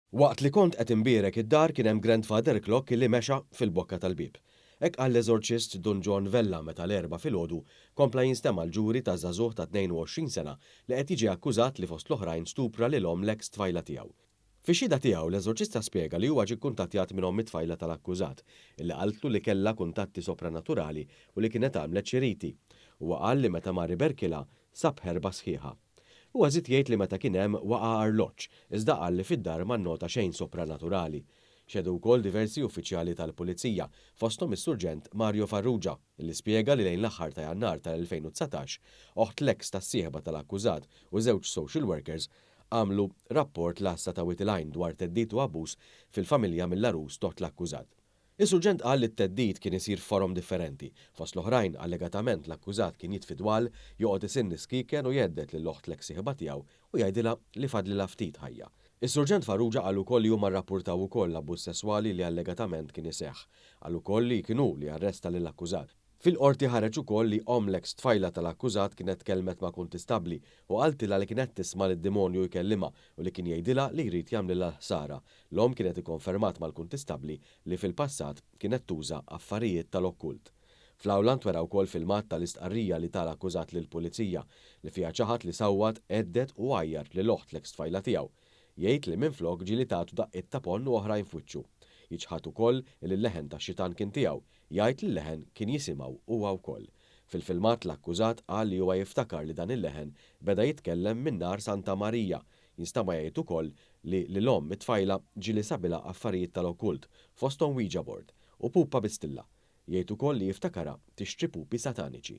Waqt li kont qed inbierek id-dar kien hemm Grandfather Clock li mexa fil-bokka tal-bieb. Hekk qal l-eżorċist Dun John Vella meta l-Erbgħa filgħodu kompla jinstema' l-ġuri ta' żagħżugħ ta' 22 sena li qed jiġi akkużat li fost l-oħrajn stupra lil omm l-eks tfajla tiegħu. Fix-xhieda tiegħu, l-eżorċista spjega li huwa ġie kkuntattjat minn omm it-tfajla tal-akkużat, illi qaltlu li kellha kuntatti sopranaturali u li kienet għamlet xi riti. Huwa qal li meta mar iberkilha, sab ħerba sħiħa. Huwa żied jgħid li meta kien hemm waqa' arloġġ, iżda qal li fid-dar ma nnota xejn sopranaturali. Xehdu wkoll diversi uffiċjali tal-Pulizija, fosthom is-Surġent Mario Farrugia, li spjega li lejn l-aħħar ta' Jannar tal-2019, oħt l-eks tas-sieħba tal-akkużat u żewġ social workers għamlu rapport l-Għassa ta' Wied il-Għajn dwar theddid u abbuż fil-familja mill-għarus t'oħt l-akkużat. Is-Surġent qal li t-theddid kien isir f'forom differenti. Fost l-oħrajn, allegatament l-akkużat kien jitfi dwal, joqgħod isinn is-skieken u jhedded lil oħt l-eks sieħba tiegħu u jgħidilha li fadlilha ftit ħajja. Is-Surġent Farrugia qal ukoll li huma rrappurtaw ukoll l-abbuż sesswali li allegatament kien iseħħ. Qal ukoll li kien hu li arresta lill-akkużat. Fil-Qorti ħareġ ukoll li omm l-eks tfajla tal-akkużat kienet tkellmet ma' kuntistabbli u qaltilha li kienet tisma' lid-demonju jkellimha u li kien jgħidilha li jrid jagħmlilha l-ħsara. L-omm kienet ikkonfermat mal-kuntistabbli li fil-passat kienet tuża affarijiet tal-okkult. Fl-awla ntwera wkoll filmat tal-istqarrija li ta l-akkużat lill-Pulizija, li fiha ċaħad li sawwat, għedded u għajjart lil oħt l-eks tfajla tiegħu. Jgħid li minflok ġieli tagħtu daqqiet ta' ponn u oħrajn f'wiċċu. Jiċħad ukoll li l-leħen tax-xitan kien tiegħu, jgħid li l-leħen kien jisimgħu huwa wkoll. Fil-filmat l-akkużat qal li huwa jiftakar li dan il-leħen beda jitkellem minn nhar Santa Marija. Jinstama jgħid ukoll li lil omm it-tfajla ġieli sabilha affarijiet tal-okkult, fosthom Ouija board u pupa bi stilla. Jgħid ukoll li jiftakarha tixtri pupi sataniċi.